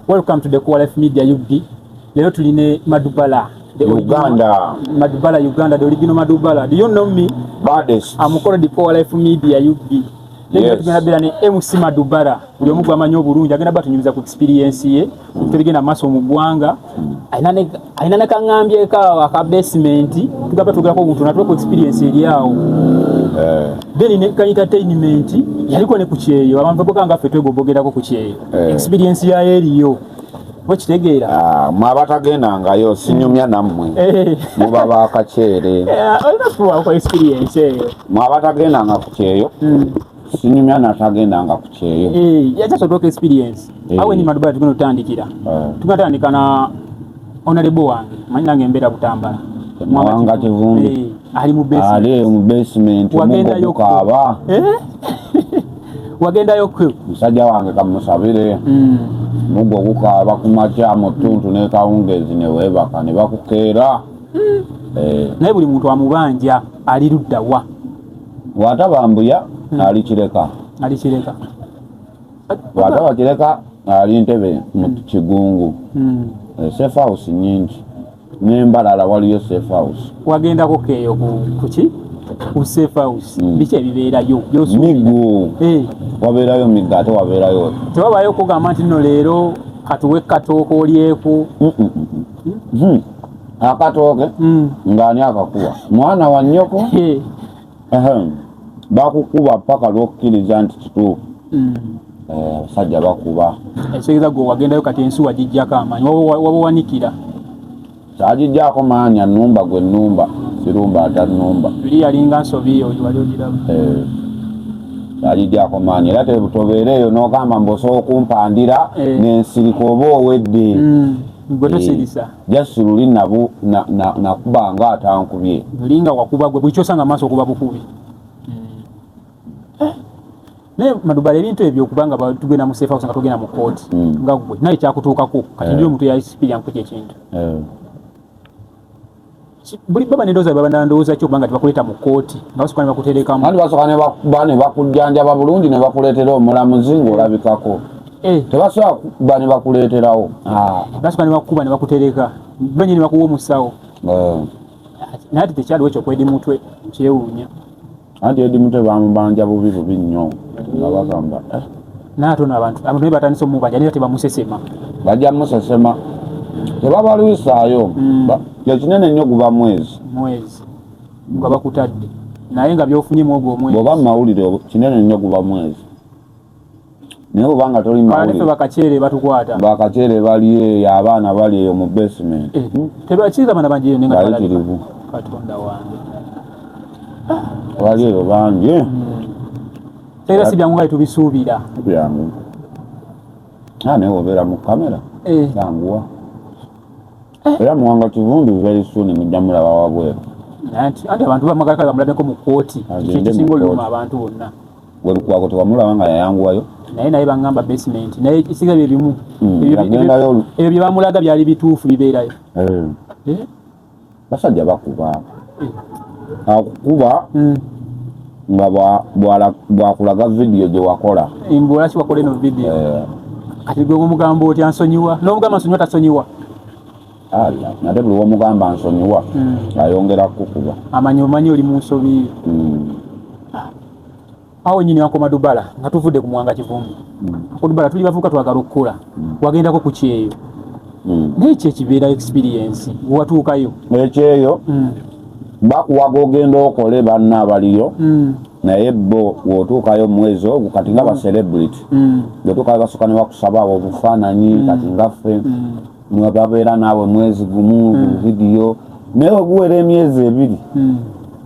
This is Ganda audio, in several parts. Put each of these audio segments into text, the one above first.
Welcome to the Core Life Media UD. Leo tuline Madubala. The Uganda. Madubala Uganda, the original Madubala. Do you know me? Baddest. I'm called the Core Life Media UD. Yes. Tugenda bera ne MC Madubala. Buli omu gwamanyi obulungi agenda batunyumiza ku experience ye. Tugenda maso mu gwanga. Ainane alina nakaŋambyeko awo aka basement tugamba tugerako obuntu natuwa ku experience eri awo eh. then ne kanyita entertainment yaliko ne ku kyeyo abantu baboga nga ffe twegobogerako ku kyeyo eh. experience yayo eriyo bwekitegeera ah, mwe abatagendangayo sinyumya nammwe eh. muba bakakyeere olina kubaako experience eyo mwe abatagendanga ku kyeyo hmm. sinyumya natagendanga ku kyeyo yakyasodooka experience awe ni madubai tugenda otandikira tugenda tandika na onalebo wange manyi nange embeera butambala mwanga kivumbi ali mu basement wagendayo kaaba wagendayo kwe musajja wange kamusabire mm. mugo gukaaba ku makya mu ttuntu nekawungeezi neweebaka ne bakukeera mm. eh. naye buli muntu amubanja ali luddawa bwataba mbuya hmm. ali kireka ali kireka bwataba kireka ali ntebe mu hmm. kigungu hmm. eh, safe house nyingi nembalala waliyo safe house wagendako keeyo kuki ku safe house biki ebibeerayo migu eh. wabeerayo migu ate wabeerayo tewabayo kugamba nti no leero katuwe katooka olyeku akatooke hmm. ng'ani akakuwa mwana wa nnyoko bakukuba paka lwokkiriza nti kituufu hmm. eh, abasajja bakuba ekitegeeza gwe wagendayo kati ensi wagijjako amaanyi wabawanikira kyagijjako maanyi annumba gwe nnumba sirumba atannumba eri yalinga nsobi oyo wali ogiramu eh. alidyako maanyi era tebutobera eyo nogamba mbu osobola okumpandira eh. nensirika oba owedde mm. gwe tosirisa eh. just luli nabu na na nakuba nga atankubye linga wakuba gwe bwicho sanga maso kuba bukubi eh ne madubale bintu ebyo kubanga ba tugena mu safe house nga tugena mu court mm. nga gwe naye kya kutuka ku kati eh. ndio mtu ya ICP yangu kye kintu eh buli baba nedoza baba nandowoza kyo kubanga tebakuleeta mu kkooti nga basooka ne bakuteerekamu anti basooka nebakuba ne bakujjanjaba bulungi ne bakuleetera omulamuzi ng'olabikako eh. tebasobola kuba ne bakuleeterawo ah. basooka ne bakuba ne bakutereka benye ne bakuwa omusawo eh. naye ati tekyaliwo ekyokwedi mutwe kyewuunya anti edi mute bamubanja bubi bubi nnyo nga bagamba eh. naye ate ono abantu abantu naye batandise omubanja naye tebamusesema bajja musesema tebabalwisaayo mm. kyekinene nnyo guba mwezi mwezi nga bakutadde naye nga byofunye mwogwo omwezi oba mumawulire kinene nnyo guba mwezi naye obanga toli mawulire bakakyere batukwata bakakyere bali eyo abaana bali eyo mu basement eh, hmm? tebakiza bana bangi ne nga tirivu katonda wange bali eyo bangi eh? hmm. era si byangu nga tubisuubira byangu ah, naye obeera mu kamera eh. yanguwa era muwanga kivundu very soon mujja mulaba wabweru anti abantu bamagala kale bamuladeko mu kooti kikisinga oluluma abantu bonna we Lukwago tewamulaba nga yayanguwayo naye naye bangamba basement naye isiga bye bimu hmm, ebyo bye bamulaga byali bituufu bibeerayo eh. Eh? basajja bakuba eh. akukuba hmm. nga bwakulaga vidiyo gye wakola mbulaki wakola eno vidiyo kati gwe omugambo otya nsonyiwa n'omugamba nsonyiwa tasonyiwa Allah nate buli womugamba nsonyiwa hmm. ayongera kukuba amanyi omanyi oli munsobi hmm. awo nyini wakoma dubala nga tuvudde ku mwanga kivumbi hmm. ku dubala tuli bavuka twagala okukola wagendako ku kyeyo naye kyo ekibeera experience wewatuukayo ekyeyo bakuwaga ogenda okole banna abaliyo naye bo wotuukayo mwezi ogwo kati nga ba celebrity wotuukayo basuka newakusaba awo obufaananyi kati ngaffe mwe babeera naawe mwezi gumu hmm. vidiyo naye weguwera emyezi ebiri hmm.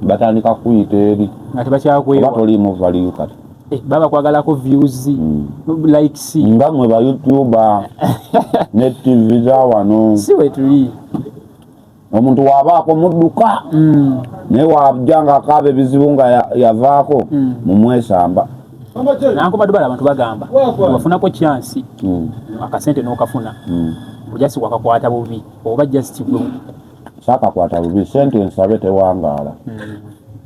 batandika kuyita eri nga tebakyakweba toliimu valiyu kati eh, baba kwagalako views hmm. likes nga mwe ba youtuber ne tv za wano si wetuli omuntu wabaako mudduka mm. naye wajja nga akaaba ebizibu nga yavaako mm. mumwesamba nankubadde bala abantu bagamba wafunako kyansi mm. akasente nokafuna ojasi wakakwata bubi oba just gwe sakakwata bubi sente ensabe tewangaala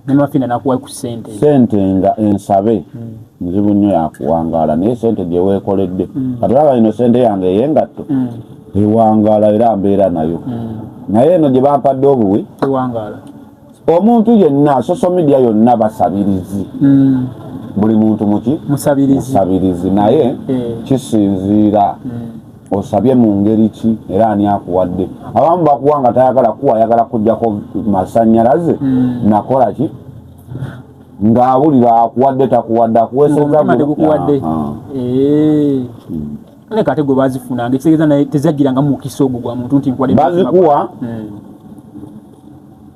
nemafina nakuwa ku sente sente nga ensabe nzibu nnyo yakuwangaala naye sente gyewekoledde katulaba ino sente yange eyengatto ewangaala era mbeera nayo hmm. naye eno gye bampadde obuwi ewangaala omuntu yenna social media yonna basabirizi hmm. buli muntu muki musabirizi naye eh. kisinziira hmm. osabye mu ngeri ki era ani akuwadde abamu bakuwa nga tayagala kuwa ayagala kujjako masanyalaze nakola ki ng'awulira akuwadde takuwadde akuweesezza ne kate gwe bazifuna nge tegeza naye tezagira nga mukisa ogwo gwa muntu nti nkwade bazikuwa hmm.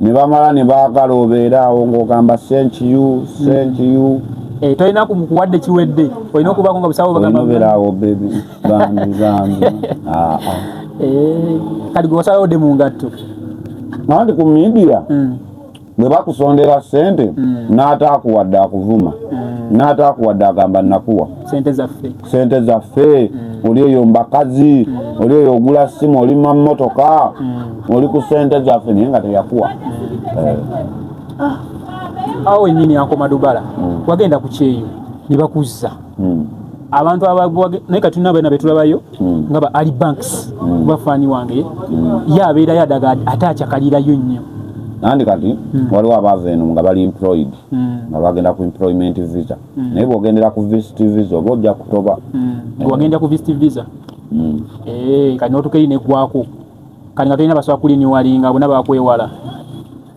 ne bamala ne bagala obeera awo ng'ogamba sent you sent hmm. you eh, tolina kuwadde kiwedde olina okubaako nga busawo bagambabera awo bebi bambi bambi ah, ah. Eh, kati gwe wasalawo de mu ngatto nandi ku midia hmm. bwe bakusondera sente mm. n'ataakuwadde akuvuma mm. n'ataakuwadde agamba nakuwa sente zaffe sente zaffe mm. oli eyo mbakazi mm. oli eyo ogula simu oli mamotoka mm. oli ku sente zaffe naye nga teyakuwa mm. eh. ah. awo wenyini ankoma dubala mm. wagenda ku kyeyo ne bakuzza hmm. abantu abagwage naye kati nabo na betulabayo hmm. nga ba ali banks hmm. bafani wange ya abera ya daga atacha kalira yunyo nandi kati waliwo abava eno nga bali employed nga bagenda ku employment visa naye bwogendera ku visit visa oba ojja kutoba wagenda ku visit visa eh, kati notukeyi negwako kati nga tolina basobola kuliniwalinga bona bakwewala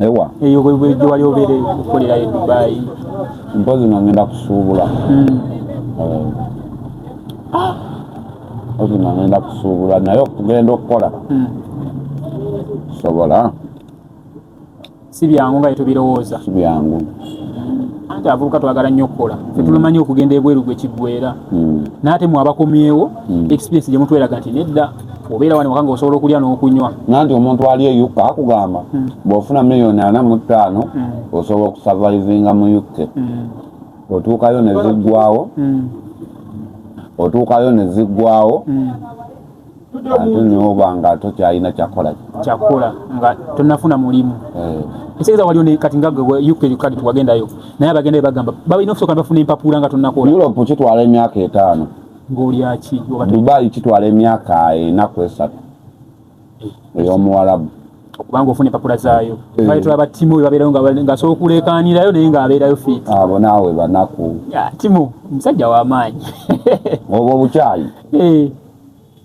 ewa eyo gye wali obeera okukolera e dubayi mpozi nga ngenda kusuubula hmm. eh. ah! mpozi nga ngenda kusuubula naye okugenda okukola hmm. sobola si byangu nga yetubirowooza si byangu anti abavubuka twagala nnyo okukola fetulumanyi okugenda ebweru gwe kiggwera hmm. naate mwe abakomyewo experience gye mutweraga nti nedda obeera wano waka nga osobola okulya n'okunywa nanti omuntu ali e uk akugamba hmm. bw'ofuna miliyoni ana mu ttaano hmm. osobola okusavaivinga mu uk hmm. otuukayo ne ziggwawo otuukayo ne ziggwawo ate noba nga tokyalina kyakola kyakola nga tonafuna mulimu eh. ekitegeza waliwo ne kati nga uk kadi tuwagendayo naye abagendayo bagamba balina okusooka ne bafuna empapuula nga tonakola europe kitwala emyaka etaano dubai kitwala emyaka enaku esatu eh. eyomuwalabu okubanga ofuna empapula zaayo eh. baitula ba timu webabeerayo ngasobola okuleekaanirayo naye ngaabeerayo fit abo naawe banaku timu omusajja wamaanyi obwo obukyayi eh.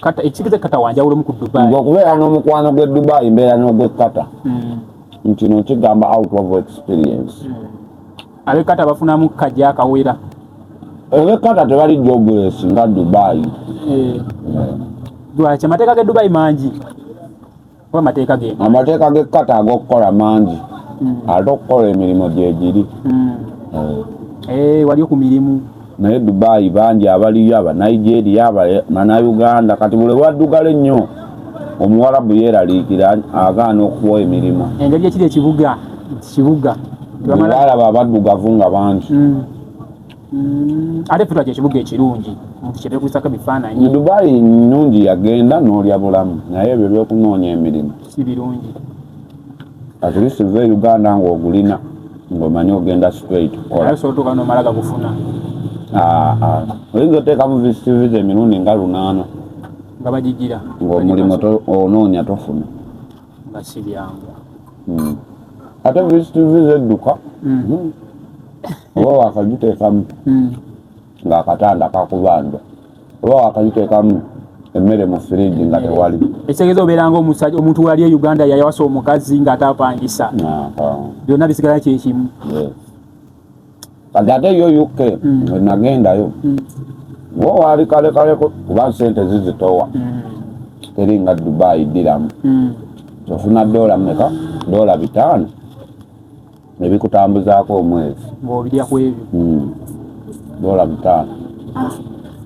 kata ekitegeza kata wanjawulo mu Dubai ngo kubeera no mukwano gwe Dubai mbeera no gwe kata mm. nti no kigamba out of experience mm. abe kata bafuna mu kaja akawera ebe kata tebali jobless nga Dubai eh. eh. Dubai chamateka ke Dubai manji amateeka gekkata agokukola mangi hmm. ate okukola emirimu gyegiri hmm. eh. eh, wali ku mirimu naye dubayi bangi abaliyo abanigeria banauganda kati buli waddugala ennyo omuwarabu yeraliikira agaana okuwa emirimu engeri ekiri ekibuga kibuga balaba abaddugavu nga bangi hmm. Mm, ate ffe twakyo ekibuga ekirungi nti kyebekubisako ebifaananyi dubayi nungi yagenda n'olya bulamu naye ebyo byokunoonya emirimu si birungi atlist va e uganda ng'ogulina ng'omanyi ogenda straight kukolaasobola nomala gakufuna ah, ah. oyinza oteekamu visitiviza emirundi nga lunaana nga bagigira ng'omulimu onoonya tofuna nga si byangu hmm. ate vctv zedduka hmm. oba wakagiteekamu hmm. ng'akatanda kakubanja oba wakagiteekamu emmere mu firiji nga tewali ekitegeeza obeeranga omusaja omuntu wali e uganda yayawasa omukazi ng'ataapangisa byonna bisigala kyekimu kati ate yo uk mm. wenagendayo mm. wo waali kalekale kuba sente zizitowa mm. teri nga dubai diramu ofuna dola meka dola bitaano nebikutambuzaako omwezi dola bitaano ah.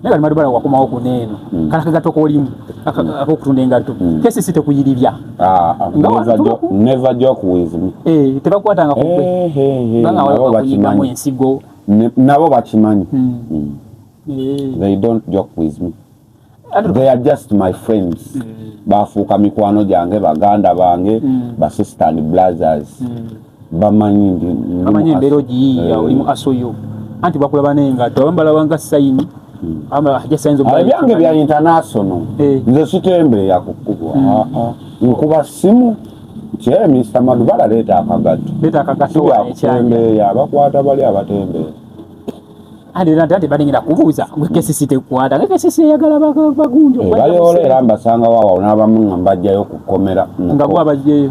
naye bali madubala wakomawo ku neeno mm. kala kaga toko olimu ako kutunda engatto mm. kesi site kuyiribya ah, ah never joke never joke with me eh teba kwata nga kukwe hey, hey, hey. banga wala kunyika mu ensigo nabo bakimanyi mm. mm. Eh. they don't joke with me they are just my friends mm. bafuuka mikwano gyange baganda bange mm. basistan brothers mm. bamanyi ndi bamanyi embeera ogiyiiya eh. oli mu aso yo anti bakulaba n'engatto abamu balabanga sayini hmm. ah, ebyange bya international eh. nze sitembeeya kukubwa hmm. ah, ah. nkuba simu kye mista madubala leeta akagatto sibyakutembeeya bakwata bali abatembeeya ate balengera kubuuza kcc tekwata kcc eyagala bagunjobayola eh, era mbasangawo awo n'abamu nga mbajjayo kukomera nga bwabajjeyo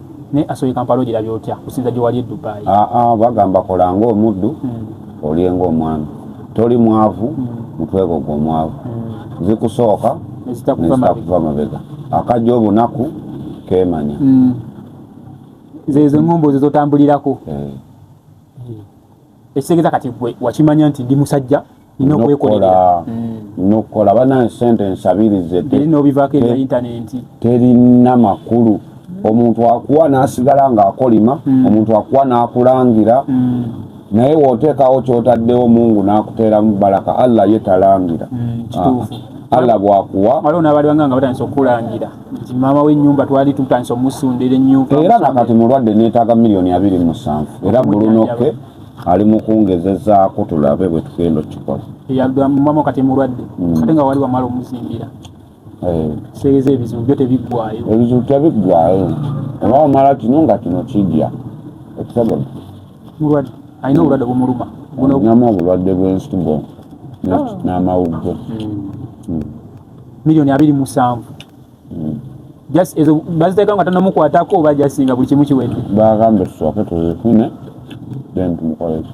ne asoye kampala ogira byotya kusinza gye wali e dubai aa ah, ah, bagamba kola nga omuddu hmm. olye nga omwami toli mwavu hmm. mutwego gwe omwavu hmm. zikusooka nezitakuva mabega akajja obunaku kemanya zezo ngombo zezotambulirako eh. ekitegeza kati gwe wakimanya nti ndi musajja nina okwekolerera nokukola mm. bana sente nsabirize nobivako ebya intanenti terina makulu omuntu akuwa nasigala nga akolima mm. omuntu akuwa nakulangira mm. naye woteekawo kyotaddewo mungu nakuteeramu balaka allah ye talangira ah. allah bwakuwa waliwo nabalibanga nga batandisa okukulangira nti maama w'ennyumba twali tutandise omusundira ennyo era nakati mulwadde neetaaga miliyoni abiri mu musanvu era bulunoke ali mu kungezezaako tulabe bwe tugenda okukikola maama kati mulwadde mm. ate nga wali wamala omuzimbira eh. seeza ebizibu byo tebiggwayo ebizibu tebiggwayo oba wamala kino nga kino kijja ekisabola mulwadde alina obulwadde bumuluma namu obulwadde bw'ensigo ah. n'amawuggo mm. mm. milioni abiri musanvu mm. just ezo baziteeka nga tanamukwatako oba jasinga buli kimu kiwedde bagambe tusooke tuzifune then tumukoleki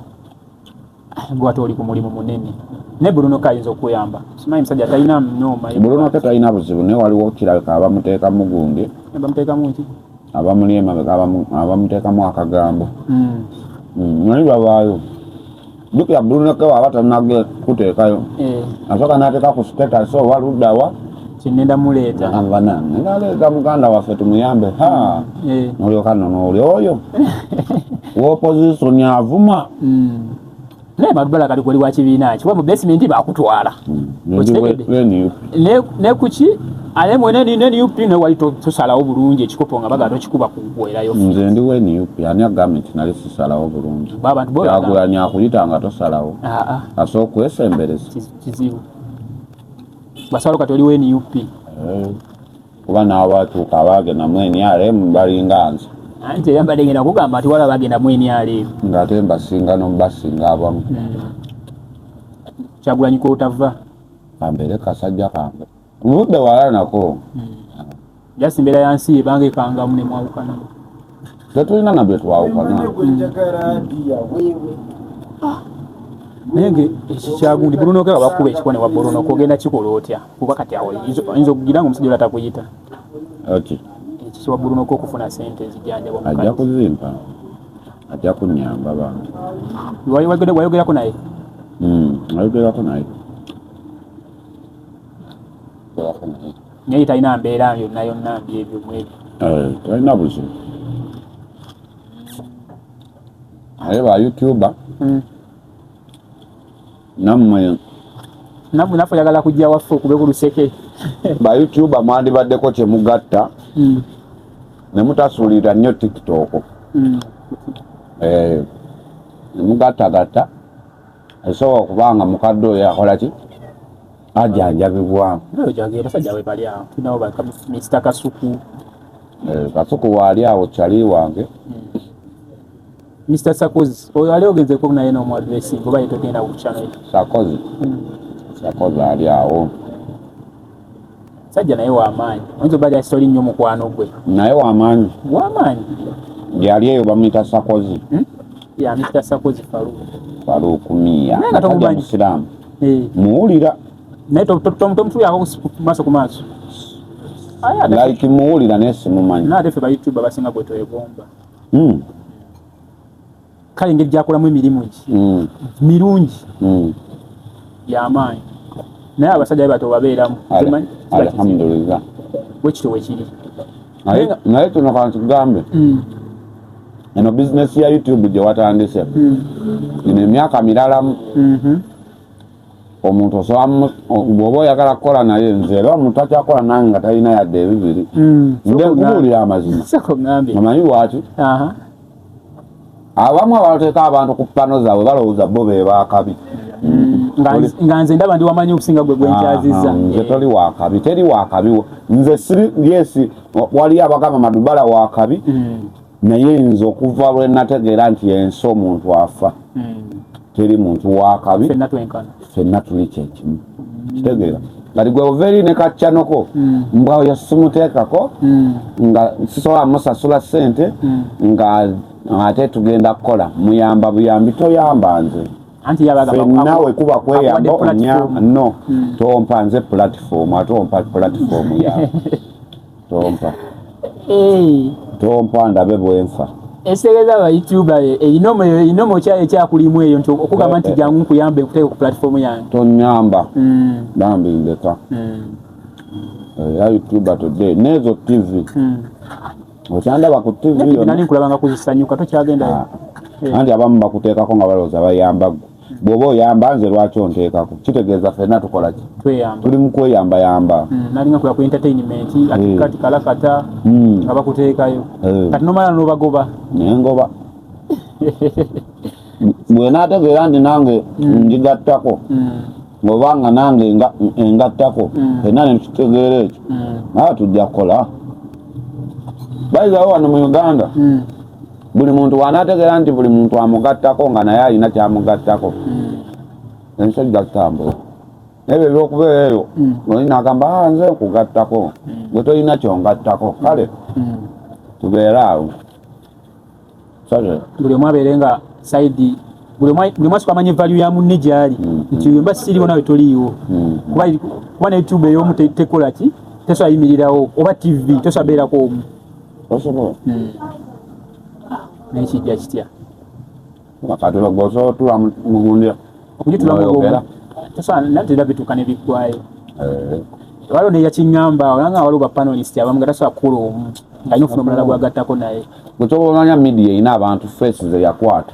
ah, gwate oli ku mulimu munene ne bruno ke ayinza okuyamba simanyi musajja talina mnoma bruno ke talina buzibu naye waliwo kirabika abamuteekamu gundi eh, bamuteekamu ki abamuli emabega abamuteekamu akagambo hmm. Hmm, naye babaayo jukira buluneke waba tanage kuteekayo eh. asooka nateeka ku status oba luddawa kyenenda muleeta abana naleeta muganda waffe tumuyambe ha eh. nolyoka nono oli oyo wopozisoni avuma hmm. naye madubala kali kwoli wakibiina ki wa mu basementi bakutwala hmm. ne kuki ale mwene ni ne UP ne wali to tusalawo bulungi ekikopo nga baga tokikuba kuwera yo nze ndi we ni UP ani agame tinali tusalawo bulungi baba tubo yagula ni akuyita nga tosalawo a ah, a ah. aso kwesembereza kizibu basalo katoli we ni UP eh, kuba na watu kabage na mweni ale mbali nganza ante yamba dengera kugamba ati wala bagenda mweni ale ngatemba singa no mbasinga abamu hmm. chagulanyi ko utava kambeere kasajja kange muludde wala nako jasi mbeera ya nsi ebange kangamu nemwawukana tetulina nabye twawukana naye nge ekikyagundi bulunoke nga bakuba ekikuba ne wabulunoka ogenda kikola otya kuba kati awo oyinza okugira nga omusajja olatakuyita ekiki wabulunoka okufuna sente ezijanjabwa ajja kuzimpa ajja kunyamba bantu wayogerako naye hmm, wayogerako naye naye talina mbeera yonna yonna mbyebyo mwebyo eh, talina buzibu naye ba youtuber hmm. namwe namwe nafe oyagala kujja waffe okube ku luseke ba youtuber mwandibaddeko kyemugatta mm. ne mutasuulira nnyo tiktok mm. eh, mugattagatta esobola okuba nga mukadde oyo akola ki ajanjabibwa kasuku eh, kasuku waali awo kyali wange mm. Mr. Sakozi oyo ali ogeze ko naye no mwa dressing oba yeto genda ku channel Sakozi mm. Sakozi ali awo Sajja naye wa maanyi onzo bali asoli nyo mukwano gwe naye wa maanyi wa maanyi yali eyo bamita Sakozi hmm? ya Mr. Sakozi Farouk Farouk Mia nga tomumanyi Islam eh muulira naye to to to mtu yako maso ku maso aya like muulira nesi mumanyi na defe ba youtuber basinga kweto egomba mm. kale engeri gyakolamu emirimu egi mm. mirungi mm. yamaanyi naye abasajja bato babeeramu alhamdulillah wekityo wekiri naye kino kantugambe mm. eno bizinesi ya youtube gyewatandise mm. ino emyaka miralamu mm-hmm. omuntu osobola bwoba oyagala kukola naye nze era omuntu akyakola nange nga talina yadde ebibiri hmm. nde nkubuulira amazima omanyi lwaki abamu abateeka abantu ku pano zaabwe balowooza bo be bakabi hmm. nga nze ndaba ndi wamanyi okusinga gwe gwenkyazizza nze toli wakabi teri wakabi nze siri yesi waliyo abagamba madubala wakabi hmm. naye nze okuva lwe nategeera nti ensi omuntu afa hmm. teri muntu wakabi fenna tuli kyekimu hmm. kitegeera kati gwe ovaeri ne kaccanoko hmm. mbwa oyo simuteekako nga sisobola musasula sente nga ate tugenda kukola muyamba buyambi toyamba nze fenna wekuba kweyamba onya no tompa nze pulatifomu ate ompa pulatifomu yawe tompa tompa ndabe bwenfa enseereza ba youtube ye eyinomo eyinomo kyayo ekyakulimu eyo nti okugamba nti jangu nkuyambe kuteeka ku platform yange tonyamba mm. bambi ndeka mm. eh, ya youtube today nezo tv mm. okyandaba ku tv nani nkulabanga kuzisanyuka tokyagendayo ah. eh. anti abamu bakuteekako nga balowooza bayambagwe bwoba oyamba nze lwaki onteekako kitegeeza fena tukola ki tuli mukweyamba yamba mm, nalinga kula ku entertainment eh. ati kati kalakata mm. nga bakuteekayo eh. kati nomala nobagoba naye ngoba bwenategeera nti nange mm. njigattako ngoba nga nange engattako fena nekitegeera ekyo naye tujja kukola bayizawo wano mu uganda buli muntu wanategera nti buli muntu amugattako nga naye alina kyamugattako hmm. ensi ojja kutambula ebyo ebyokubeera eyo hmm. oli nagamba ah, nze nkugattako hmm. gwe tolina kyongattako kale tubeere awo buli omu abeere nga saidi buli omu asuka amanya evalu ya munne gyali nti mba siriwo nawe toliiwo kuba ne youtube eyomu tekolaki tesobola yimirirawo oba tv tesobola beerako omu osobola hmm. naye kijja kitya wakati bagwa osobola otula mugundira okugitula mugonga tosobola nate era bituuka ne biggwayo eh. waliwo neyakiŋamba olanga waliwo bapanelist abamu nga tasobola kukula omu nga alina ofuna omulala gwagattako naye gwekyova omanya media erina abantu face zeyakwata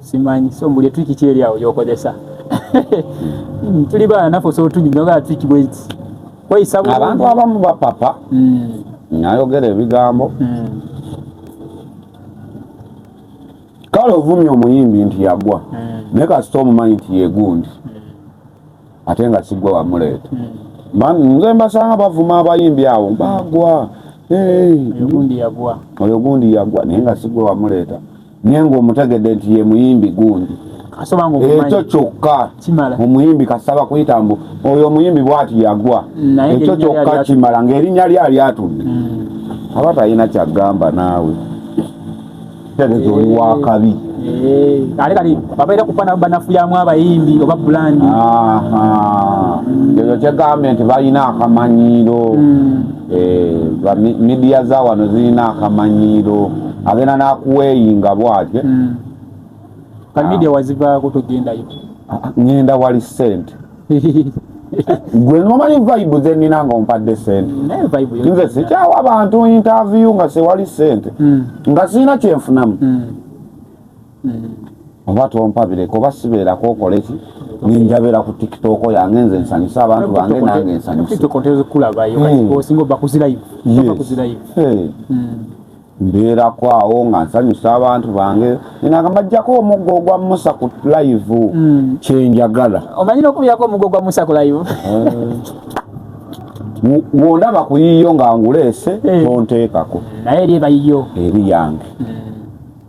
simanyi so mbuli etwiki ki eri awo gyokozesa hmm. tuli baana nafe osobola otunyugaa twiki bweti kweyisa abantu abamu bapapa hmm. nayogera ebigambo hmm. kale ovumye omuyimbi nti yagwa naye kasita omumanyi nti yegundi ate nga sigwe wamuleeta hmm. nze mbasanga bavuma abayimbi awo bagwa oyo gundi yagwa naye nga sigwe wamuleeta naye nga omutegedde nti ye muyimbi gundi ekyo kyokka omuyimbi kasaba kuyita mbu oyo omuyimbi bwati yagwa ekyo kyokka kimala ngaerinnya lye alyatudde hmm. aba talina kyagamba naawe kitegeeza oli wakabi ate kati babaira kufana banafuyamu abayimbi oba bulandi ekyo kyegambye nti balina akamanyiiro hmm. eh, midiya za wano zirina akamanyiiro agenda nakuweyinga bwatye hmm. kamidia ah. wazivaako togendayo ah, ngenda wali sente gwe nomanyi vibe zenina nga ompadde sente mm, nze sikyawa abantu interview nga sewali sente mm. nga sirina kyenfunamu mm. oba tompabireko oba sibeerako okoleki ninjabeera ku tiktok yange nze nsanyusa abantu bange nange nsanyusa mbeerako awo nga nsanyusa abantu bange nenagamba jjako omuggo ogwa musa ku live mm. kyenjagala omanyi nokubirako omuggo ogwa musa ku live eh. wondaba ku yiyo nga nguleese eh. tonteekako naye eri ebayiyo eri yange mm.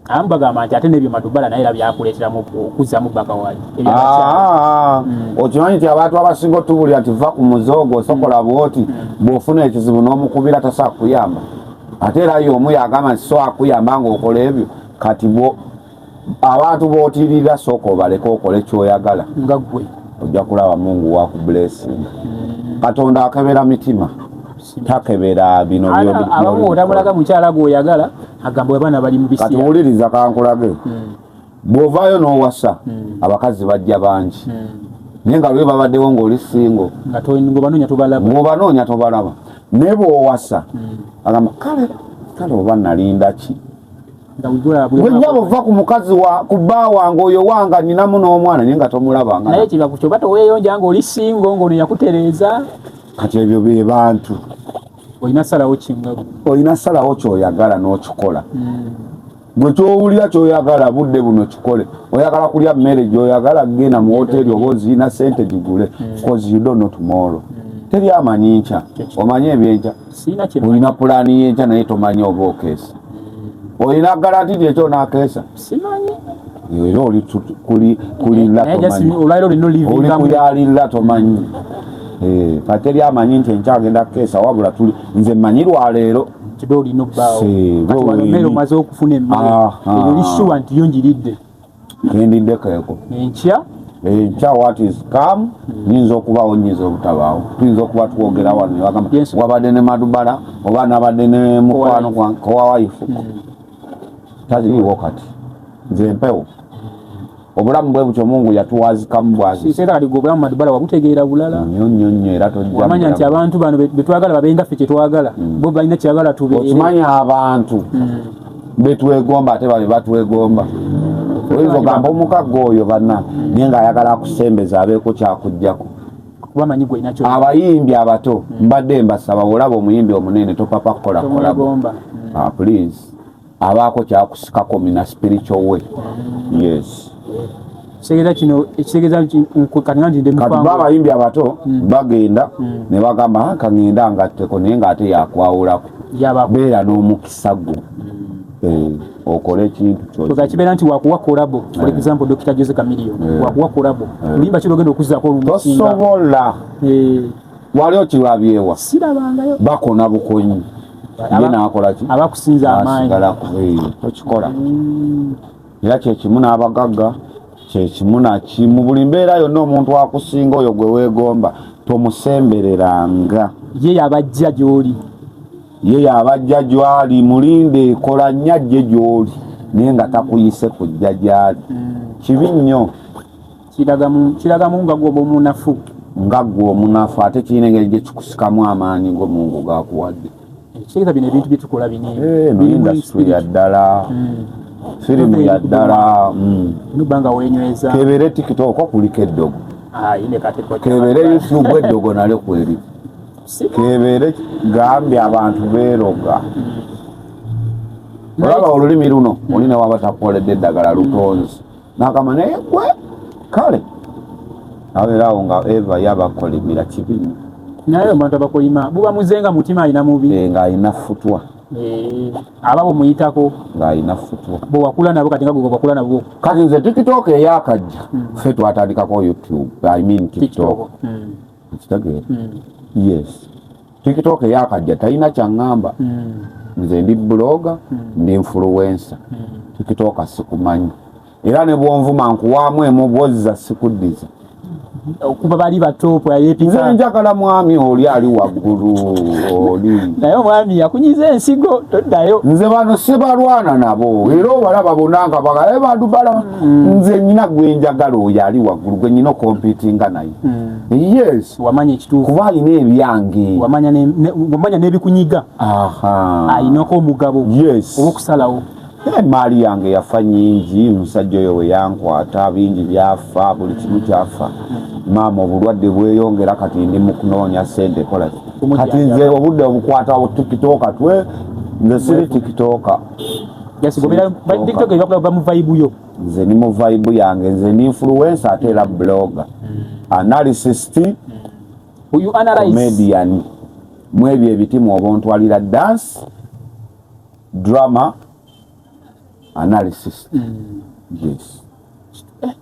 amu bagamba nti ate nebyo matubala naye era byakuleeteramu okuzzamu bbaka wali ah, mm. okimanyi nti abantu abasinga otubulira nti va ku muzoogo osokola mm. bwoti mm. bwofuna ekizibu n'omukubira tasaa kuyamba ate era ye omu yagamba nti so akuyamba ngaokola ebyo kati abantu botirira sooka obaleke okole kyoyagala nga gwe ojja kulaba mungu waku blessing katonda akebera mitima takebera binoabamu otamulaga mukyala gweoyagala agamba abaana bali mubisi kati wuliriza kankulage hmm. bwovaayo n'owasa hmm. abakazi bajja bangi hmm. naye nga lwe babaddewo ng'oli singo ng'obanoonya tobalaba naye bw'owasa hmm. agamba kale kale oba nalinda ki gwenyabo va ku mukazi wa ku bba wange oyo wanga ninamu n'omwana naye nga tomulabanga naye kibaku kyoba teweyonja ng'oli singo ng'ono yakutereeza kati ebyo be bantu olina salawo kinga olina salawo kyoyagala n'okikola gwe kyowulira kyoyagala budde buno kikole oyagala kulya mmere gyoyagala genda mu woteri oba oziina sente gigule bcause you don't know tomorrow mm. teri amanyi nkya omanyi ebyenkya olina pulaani yenkya naye tomanyi oba okeesa mm. olina garanti nti ekyo onakeesa era oli kuyalirira tomanyi eh, kateri amanyi nti enkya agenda kukeesa wabula tuli nze manyi lwaleero kiba olina obbaawo kati wano emmere omaze okufuna emmere ah, ah. eyo lissuwa nti yo njiridde kendidde keeko enkya enkya eh, wat is come nyinza hmm. okubaawo nyinza obutabaawo tuyinza okuba twogera wano newagamba wabadde ne madubala oba nabadde ne mukwano kowawayifuko hmm. taliiwo kati nze empewo obulamu bwe butyo mungu yatuwazikamu bwaziera aliga obulamu madibala wabutegeera bulala nyo nyo nyo era tojamanya nti abantu bano betwagala babenga ffe kyetwagala mm. bo balina kyebagala tube okimanya abantu mm. betwegomba ate babe batwegomba oyinza ogamba omukagga oyo banna naye nga ayagala akusembeza abeeko kyakujjako wamanyi gwe nakyo abayimbi abato hmm. mbadde mbasaba olaba omuyimbi omunene topapa kukola kolabo hmm. ah, please abaako kyakusikako mina spiritual way hmm. yes segeza kino ekisegeza katinganjidemukatiba abayimbi abato bagenda ne bagamba ah, kangenda ngatteko naye ngaate yakwawulako beera n'omukisa gwo eh, okola ekintu kyoka kibeera nti wakuwa kolabo for eh. example Dr. Jose Chameleon eh. wakuwa kolabo limba kiro genda okuzako olumusinga tosobola wali okirabyewa sirabangayo bakona bukonyi ye nakola ki abakusinza amaanyi okikola mm. era kyekimu n'abagagga kyekimu nakimu buli mbeera yonna omuntu akusinga oyo gwe weegomba tomusembereranga ye yabajja gy'oli ye yabajja gyali mulinde ekola nnyo ajje gyoli naye nga takuyise kujja gyali kibi nnyo kiraga mungaga oba omunafu nga gwe omunafu ate kirina engeri gye kikusikamu amaanyi go mungu gakuwadde ekireka bino ebintu byetukola binindasitule eh, ya ddala hmm. firimu ya ddala hmm. nubanga wenyweza kebere tiktok okuliko eddogo ah, kebere youtube eddogo nalyo kweri kebeere gambye abantu beeroga olaba olulimi luno olina waba takukoledde eddagala lutonzi nakama naye gwe kale abeerawo nga eva yabakolimira kibi naye omuntu abakolima buba muze nga mutima alina mubi eh, ng'alina futwa eh, aba bumuyitako ng'alina futwa bwewakula nabo kati nga gwewakula nabwo kati nze tiktok eyakajja hmm. fe twatandikako youtube i mean tiktok hmm. ekitegeera hmm. yes tiktok yakajja talina kyaŋŋamba hmm. nze ndi buloga hmm. ndi influensa tiktok sikumanyi era ne bwonvuma nkuwaamu emubozza sikuddiza okuba bali batopu ayepika njagala mwami oli ali waggulu oli naye omwami yakunyiza ensigo toddayo nze bano sibalwana nabo era obalaba bonanga bagae eh, badubala mm. nze nyina gwenjagala oyo ali waggulu gwenyina okompitinga naye yes wamanya ekituufu kuba alina ebyange wamanya n'ebikunyiga alinako omugabo owokusalawo emaali yange yafa nyingi omusajja oyo weyankwata bingi byafa buli kimu kyafa maama obulwadde bweyongera kati ndi mukunoonya sente kola kati nze obudde obukwatawo tikitoka twe nze siri tikitoka yes, nze ni mu vibe yange nze ndi influencer ate era blogger analyst uyu analyze comedian mwebyo ebitimu obuntu alira dance drama analysis mm. yes eh,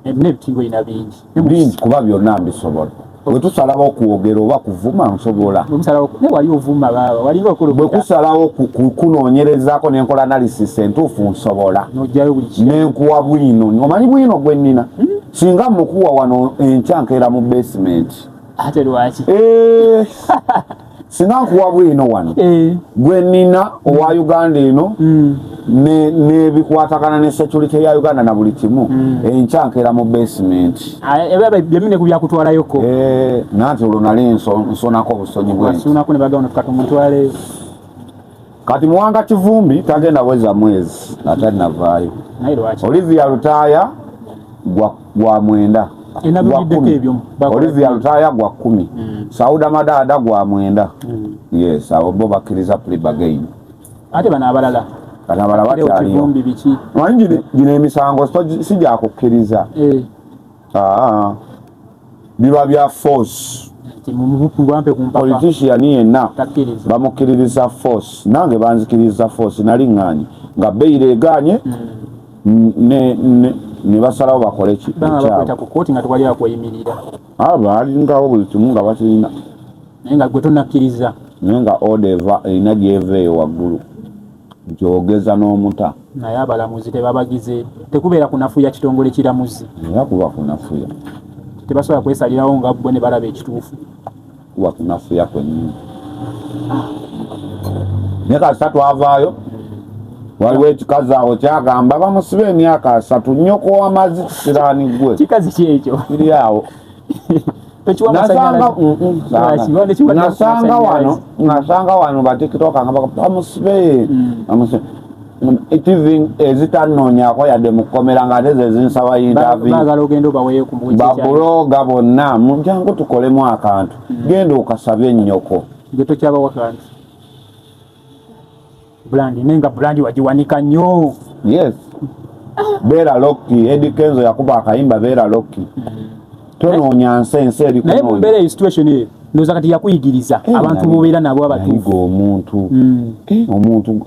ebintu bingi bingi kuba byonna mbisobola bwetusalawo okwogera oba kuvuma nsobola bwekusalawo kunoonyerezaako nenkola analysis entuufu nsobola nenkuwa bwino omanyi bwino gwennina hmm? singa mukuwa wano enkya nkeera mu basement ate lwaki eh. singa nkuwa bwino wano eh. gwe nina owa mm. uganda eno mm. nebikwatagana ne security ya uganda na buli kimu mm. enkya nkeera mu basement ah, eh, eh, byemine ku byakutwalayoko nanti olwo nali nsonako obusonyi bwensunako ne bagamba tukatomuntwaleyo Kati Muwanga Kivumbi tagenda weza mwezi atanavaayo. Olivia Lutaaya gwa, gwa mwenda gwa kumi Olivia Lutaaya gwa kumi mm. Sauda Madaada gwa mwenda mm. yes abo bo bakkiriza plea bargain ate bano abalala bano abalala bakyaliyo manyi gino emisango si gyakukkiriza eh. Aa, biba bya force politician yenna bamukkiririza force nange banzikiririza force naliŋŋaanye nga beyira egaanye hmm. ne basalawo bakole kikyabaalingawo ah, buli kimu nga bakirina naye nga gwe tonakkiriza naye nga oda eva erina gyeva eyo waggulu nti ogeza n'omuta naye abalamuzi tebabagize tekubeera kunafuya kitongole kiramuzi era kuba kunafuya tebasobola kwesalirawo nga bwe ne balaba ekituufu kuba kunafuya kwenyini ne kasita twavaayo waliwo ekikazi awo kyagamba bamusiba emyaka asatu nyoko wamazi kisiraani gwe kikazi kyekyo kiri awo nasanga wano nasanga wano batikitoka nga bamusibe bamusibe tv ezitanonyako yadde mukomera nga ate zezinsaba intavibabuloga bonna mujangu tukolemu akantu genda okasabe nyoko brand ne nga brand wajiwanika nyo yes beera lokki edi kenzo yakuba akayimba beera lokki mm. tonoonya nsi ensi eri naye mu mbeera eyo situation eyo ndoza kati yakuyigiriza eh, abantu bobeera nabo abatuufu omuntu mm. eh, omuntu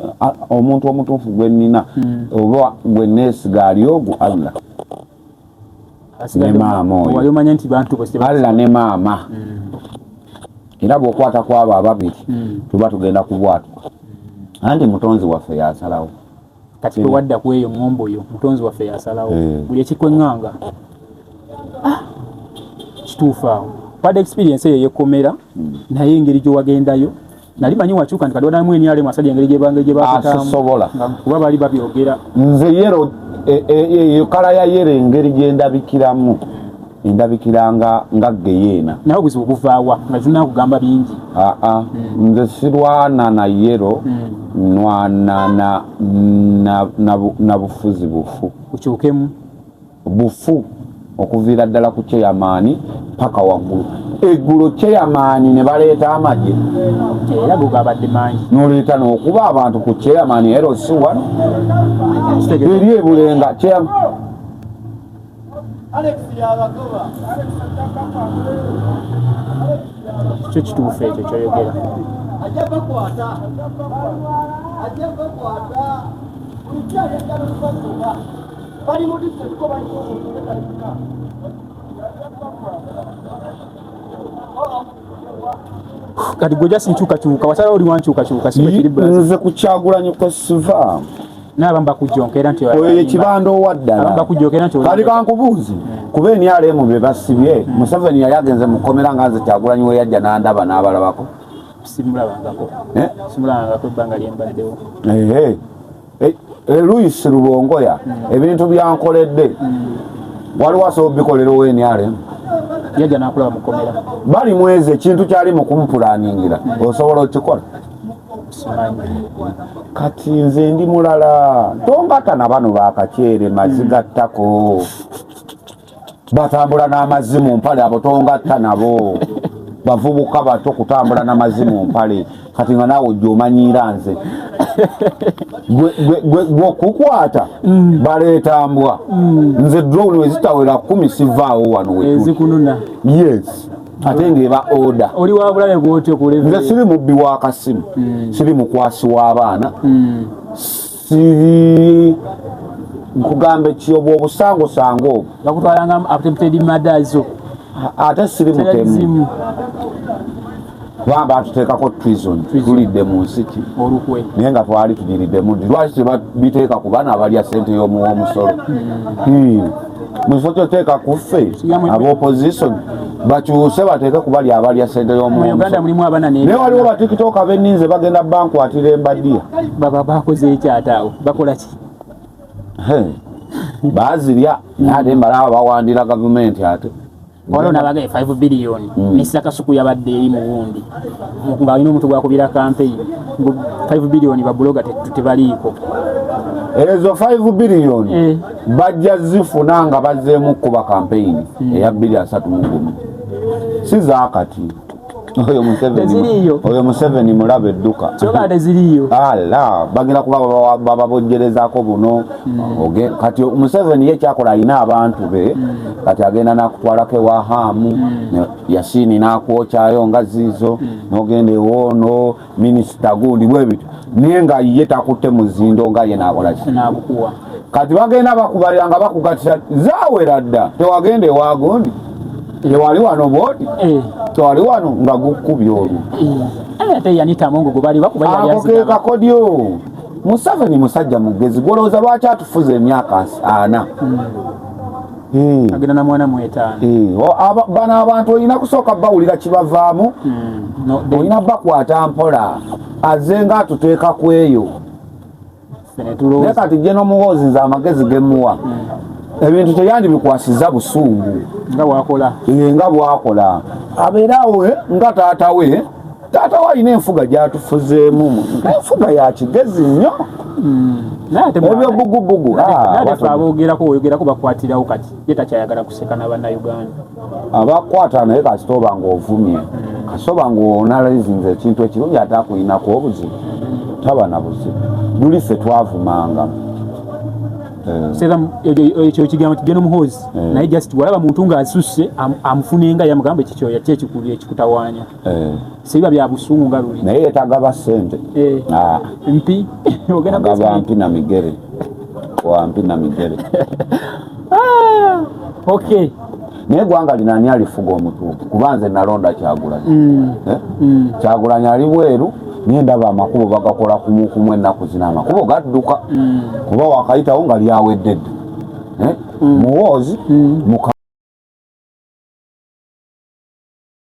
omuntu omutuufu gwe nnina mm. oba gwe neesiga ali ogwo allah ne maama oyo allah ne maama hmm. era bwokwata kwabo ababiri hmm. tuba tugenda kubwatuka anti mutonzi waffe yasalawo kati tewadda ku eyo ŋŋombo yo mutonzi waffe yasalawo eh. buli ekikweŋŋanga ah, kituufu awo pad experience eyo yekomera hmm. naye engeri gyewagendayo nali manyi wakyuka nti kadwada mu enyale mwasaje ngeri gye bangeje bakata sobola kuba bali babyogera nze yero e, e, e, e kala ya yero engeri gye ndabikiramu endabikiranga nga geyeena nawe buzibu buvaawa nga zina kugamba bingi aa ah, ah. mm. nze sirwana na yero mm. nwana na, na, na, na bufuzi bufu ukyukemu bufu okuviira ddala ku kyeyamaani paka waggulu eggulo kyeyamaani ne baleeta amagye noleeta nokuba abantu ku kyeyamaani eros one eri ebulenga kyo kituufu ekyo kyoyogera bali mu district ko bali mu kati gwe just nkyukakyuka wasalawo oli wankyukakyuka nze kukyagulanyi kwesiva nabamba kujjonka era nti oyo ekibanda owaddala kati kankubuuzi kuba enrm be basibye museveni yali agenze mukomera nga nze kyagulanyi weyajja nandaba n'abalabako simulabangako eh? simulabangako ebbanga lyembaddewo Luis Rubongoya ebintu byankoledde waliwo asobola obikolera ownrm yaja nakulaba mukomera bali mwezi ekintu kyali mukumupulaningira osobola okikola kati nze ndi mulala tongata na bano bakakyere mazigattako batambula n'amazzi mu mpale abo tongatta nabo bavubuka bato kutambula n'amazzi mu mpale kati nga naawe ojja omanyiira nze gwe okukwata mm. baleeta mbwa mm. nze drone wezitawera kumi sivaawo wano wezikununa yes ate ngeba oda oli wabulabe gwotyo kuleve nze siri mubbi wa kasimu mm. siri mukwasi w'abaana sivi nkugamba ekiyobo obusangosango obwo bakutwalanga attempted murder zo ate siri mutemu kubanga batuteekako trison tulidde mu nsiki naye nga twali tunyiriddemu nti lwaki tebabiteeka ku bana abalya sente y'omuwa omusolo hmm. Hmm. mukifo kyoteeka ku ffe abaopposition bakyuse bateeke kubali abalya sente yomunaye waliwo batikitoka beninze bagenda bankwatira embadiya bazirya ate mbalawo bawandira gavumenti ate waliwo nabagaye 5 billion mm. nesa kasuku yabadde eri mu wundi nga alina omuntu gwakubira kampeyini 5 billion babuloga tebaliiko ezo 5 billion eh. bajja zifuna nga bazzeemu kukuba kampeyini mm. eya 2 3 si zakati oyo museveni oyo museveni mulaba edduka kyoba teziriyo ala bagenda kuba bababojjerezako buno hmm. kati museveni ye kyakola alina abantu be hmm. kati agenda nakutwalako ewa haamu hmm. yasiini nakwokyayo nga ziizo nogenda ewoono minisita gundi bwebityo naye nga ye takutte muzindo nga ye nakolaki kati bagenda bakubalira nga bakugatira zawera dda tewagenda ewagundi tewali wano bwoti eh. tewali wano nga gukubya olwo ako kekakodyo museveni musajja mugezi gwolowooza lwaki atufuza emyaka ana hmm. Hmm. agenda na mwana mwetaano hmm. bano abantu olina kusooka bawulira kibavaamu hmm. olina bakwata mpola aze nga atuteeka ku eyo naye kati je nomuwoozi nze amagezi gemuwa ebintu teyandibikwasiza busungu nga bwakola abeerawo eh, nga taata we taata we alina enfuga gyatufuzeemu enfuga ya kigezi nnyo hmm. ebyobugubugu ah, abogerako oyogerako bakwatirawo kati ye takyayagala kuseka na bannayuganda abakwata naye kasita oba nga ovumye hmm. kasita oba nga onalizinza ekintu ekirungi ate akulinako obuzibu taba na buzibu luli ffe twavumanga Eh. sera ekyo ekigambo kigenda omuhoozi eh. naye just walaba muntu ng'asusse amufunenga yamugamba ekikyoya kyekikulu ekikutawanya eh. sibiba bya busungu nga luli naye yetagaba sente eh. ah. mpi ogaba mpi na migere wa mpi na migere ah. okay naye gwanga linani alifuga omutuufu kuba nze nalonda kyagulanyi mm. eh? mm. kyagulanyi ali bweru naye ndaba amakubo bagakola kumukumu ennaku zina amakubo gadduka mm. kuba wakayitawo nga lyaweddedde muwoozi